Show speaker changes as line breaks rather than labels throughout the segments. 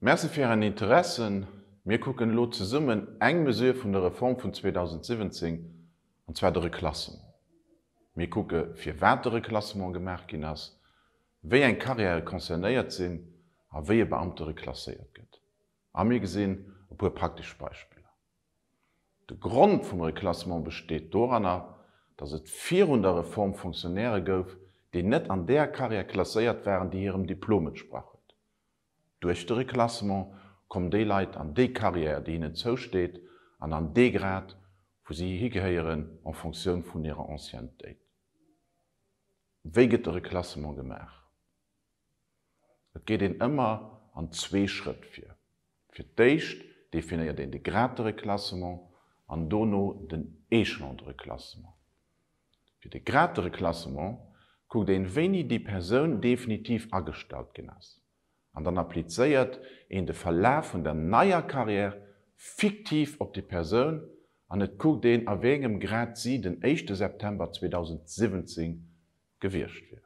Merci fir ären Interesse. Mir kucken elo zesummen eng Mesure vun der Reform vun 2017, an zwar de Reclassement. Mir kucke firwat de Reclassement gemaach ginn ass, wéi eng Carrièrë concernéiert sinn a wéi e Beamte reclasséiert gëtt. A mir gesinn e puer praktesch Beispiller. De Grond vum Reklassement besteet doranner, datt et virun der Reform Fonctionnairë gouf, déi net an där Carrière klasséiert waren, déi hirem Diplom entsprach huet. Duerch de Reklassement kommen déi Leit an déi Carrière, déi hinnen zousteet, an an dee Grad, wou si higehéieren, en Fonctioun vun hirer Anciennetéit. Wéi gëtt de Reklassement gemaach? Et geet een ëmmer an zwee Schrëtt vir. Fir d'éischt definéiert een de Grade de reclassement an dono den Échelon de reclassement. Fir de Grade de reclassement kuckt een, wéini déi Persoun definitiv agestallt ginn ass, an dann applizéiert een de Verlaf vun der neier Carrière fiktiv op déi Persoun an et kuckt een, a wéi engem Grad si den éischte September 2017 gewiescht wier.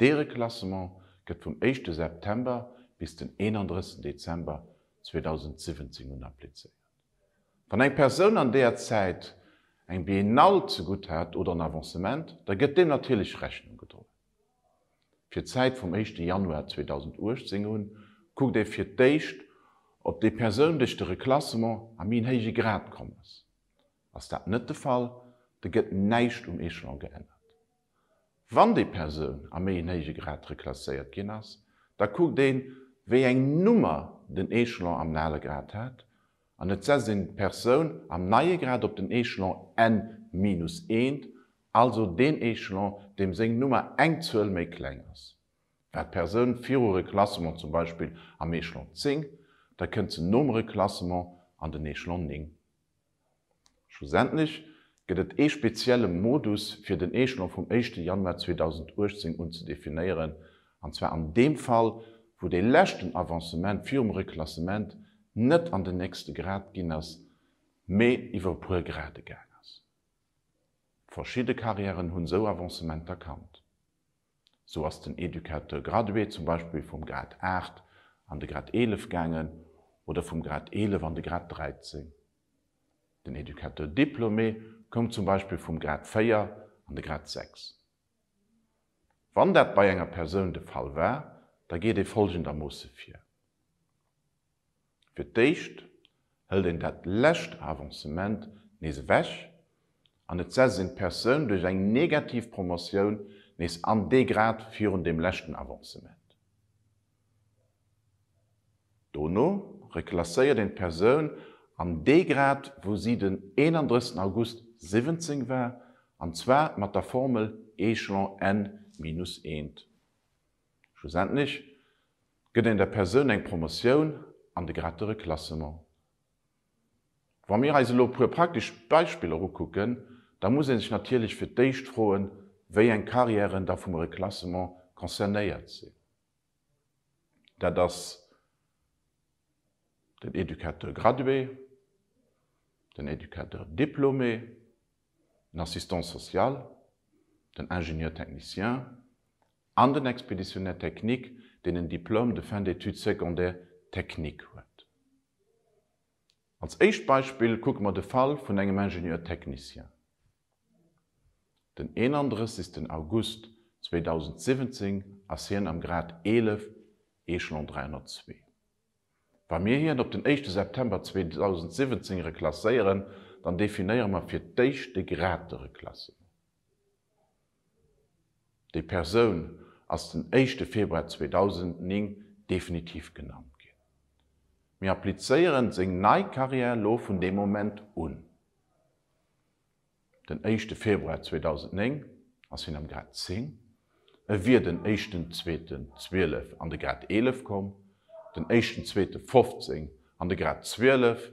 Dee Reklassement gëtt vum éischte September bis den 31 Dezember 2017 un applizéiert. Wann eng Persoun an deeër Zäit eng Biennale zegutt hat oder en Avancement, da gëtt deem natierlech Rechnung gedroen. Fir d'Zäit vum éischte Januar 2018 un kuckt ee fir d'éischt, ob déi Persoun duerch de Reklassement a méi en héije Grad komm ass. Ass dat net de Fall, da gëtt näischt um Echelon geännert. Wann déi Persoun a méi en héije Grad reklasséiert ginn ass, da kuckt een, wéi eng Nummer den Echelon am ale Grad hat, an et setzt een d'Persoun am neie Grad op den Echelon en minus eent, also deen Echelon, deem seng Nummer eng Zuel méi kleng ass. War d'Persoun viru Reklassement zum Beispill am Echelon zéng, da kënnt se nom Reklassement an den Echelon néng. Schlussendlech gëtt et ee spezielle Modus fir den Echelon vum éischte Januar 2018 un ze definéieren, an zwar an deem Fall, wou dee leschten Avancement virum Reklassement net an den nächste Grad ginn ass, mee iwwer e puer Grade gaang ass. Verschidde Carrièren hunn esou Avancementer kannt. Sou ass den Educateur gradué zum Beispill vum Grad 8 an de Grad 11 gaangen oder vum Grad 11 an de Grad 13. Den Educateur diplômé koum zum Beispill vum Grad 4 an de Grad 6. Wann dat bei enger Persoun de Fall war, da geet ee folgendermoosse vir. Fir d'éischt hëlt een dat lescht Avancement nees ewech an et setzt een d'Persoun duerch eng negativ Promotioun nees an dee Grad virun deem leschten Avancement. Dono reklasséiert een d'Persoun an dee Grad wou si den 31 August 17 war, an zwar mat der Formel Echelon n minus eent. Schlussendlech Gëtt een der Persoun eng Promotioun an de Grade de Reclassement? Wa mir eis elo e puer praktesch Beispiller ukucken, da muss ee sech natierlech fir d'éischt froen, wéi eng Carrièren da vum Reclassement concernéiert sinn. Dat ass den Éducateur gradué, den Éducateur diplômé, den Assistant social, den Ingénieur technicien an den Expéditionnaire technique, deen en Diplôme de fin d'études secondaires techniques huet. Als éischt Beispill kucke mer de Fall vun engem Ingénieur technicien. Den 31 August 2017 ass hien am Grad 11, Échelon 302. Wa mir hien op den éischte September 2017 reklasséieren, dann definéiere mer fir d'éischt de Grad de Reklassement. Déi Persoun ass den éischte Februar 2009 definitiv genannt ginn. Mir applizéieren seng nei Carrière elo vun deem Moment un. Den éischte Februar 2009 ass hien am Grad 10, e wier den éischten Zweeten 12 an de Grad 11 komm, den éischten Zweete 15 an de Grad 12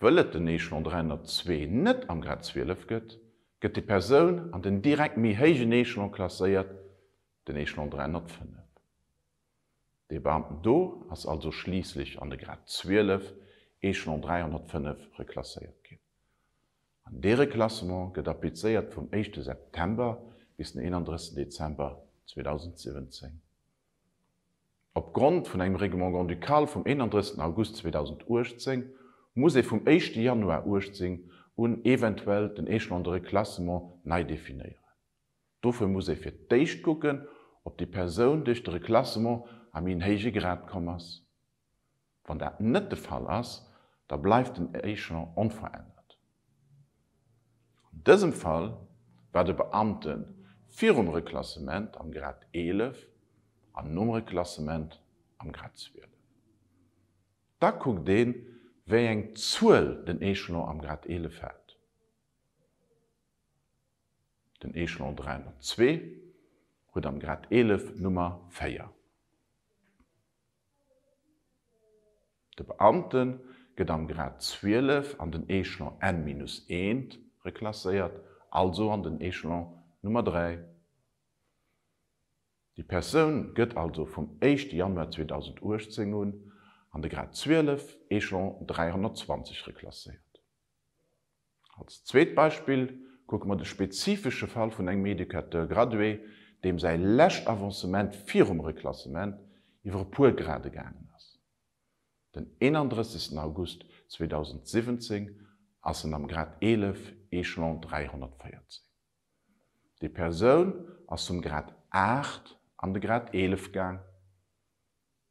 Wëll et den Echelon 302 net am Grad 12 gëtt, gëtt déi Persoun an den direkt méi héijen Echelon klasséiert, den Echelon 305. Dee Beamten do ass also schliisslech an de Grad 12, Echelon 305 reklasséiert ginn. An dee Reklassement gëtt applizéiert vum éischte September bis den 31 Dezember 2017. Op Grond vun engem Règlement grand-ducal vum 31 August 2018 muss ee vum éischte Januar 18 un eventuell den Échelon de reclassement nei definéieren. Dofir muss ee fir d'éischt kucken, ob déi Persoun duerch de Reclassement a méi en héije Grad komm ass. Wann dat net de Fall ass, da bleift den Échelon onverännert. An dësem Fall war de Beamte virum Reklassement am Grad 11 an nom Reklassement am Grad 12. Da kuckt een, wéi eng Zuel den Échelon am Grad 11 hat. Den Échelon 302 huet am Grad 11 d'Nummer 4. De Beamte gëtt am Grad 12 an den Echelon N minus eent reklasséiert, also an den Echelon Nummer 3. Déi Persoun gëtt also vum éischte Januar 2018 un an de Grad 12, Echelon 320 reklasséiert. Als zweet Beispill kucke mer de spezifesche Fall vun engem Educateur gradué, deem säi lescht Avancement virum Reklassement iwwer e puer Grade gaangen ass. Den 31 August 2017 ass en am Grad 11, Echelon 314. Déi Persoun ass vum Grad 8 an de Grad 11 gaang.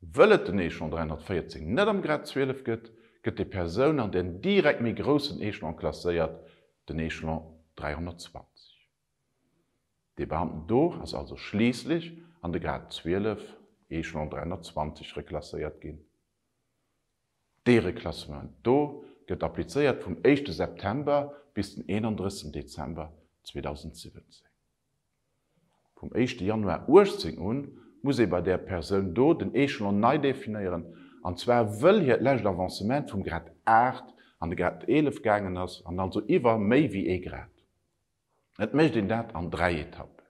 Wëll et den Echelon 314 net am Grad 12 gëtt, gëtt déi Persoun an den direkt méi groussen Echelon klasséiert, den Echelon 320. Dee Beamten do ass also schliisslech an de Grad 12, Echelon 320, reklasséiert ginn. Dee Reklassement do gëtt applizéiert vum éischte September bis den 31 Dezember 2017. Vum éischte Januar 18 un muss ee bei där Persoun do den Echelon nei definéieren, an zwar wëll hiert lescht Avancement vum Grad 8 an de Grad 11 gaangen ass, an also iwwer méi wéi ee Grad. Et mécht een dat an dräi Etappen.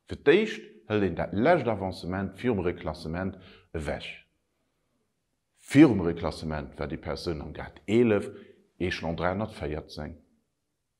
Fir d'éischt hëlt een dat lescht Avancement virum Reklassement ewech. Virum Reklassement war déi Persoun am Grad 11, Echelon 314.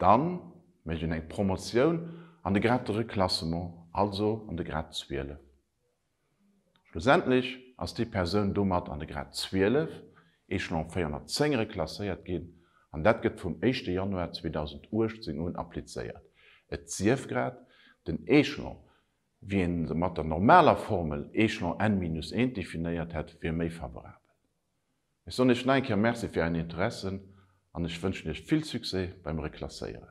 Dann mécht een eng Promotioun an de Grad de Reclassement, also an de Grad 12. Schlussendlech ass déi Persoun domat an de Grad 12, Echelon 410, reklasséiert ginn an dat gëtt vum éischte Januar 2018 un applizéiert, et sief grad den Echelon, wéi een se mat der normaler Formel Echelon n minus 1 definéiert hätt, wier méi favorabel. Ech soen iech nach eng Kéier Merci fir ären Interessen an ech wënschen iech vill Succès beim Reklasséieren.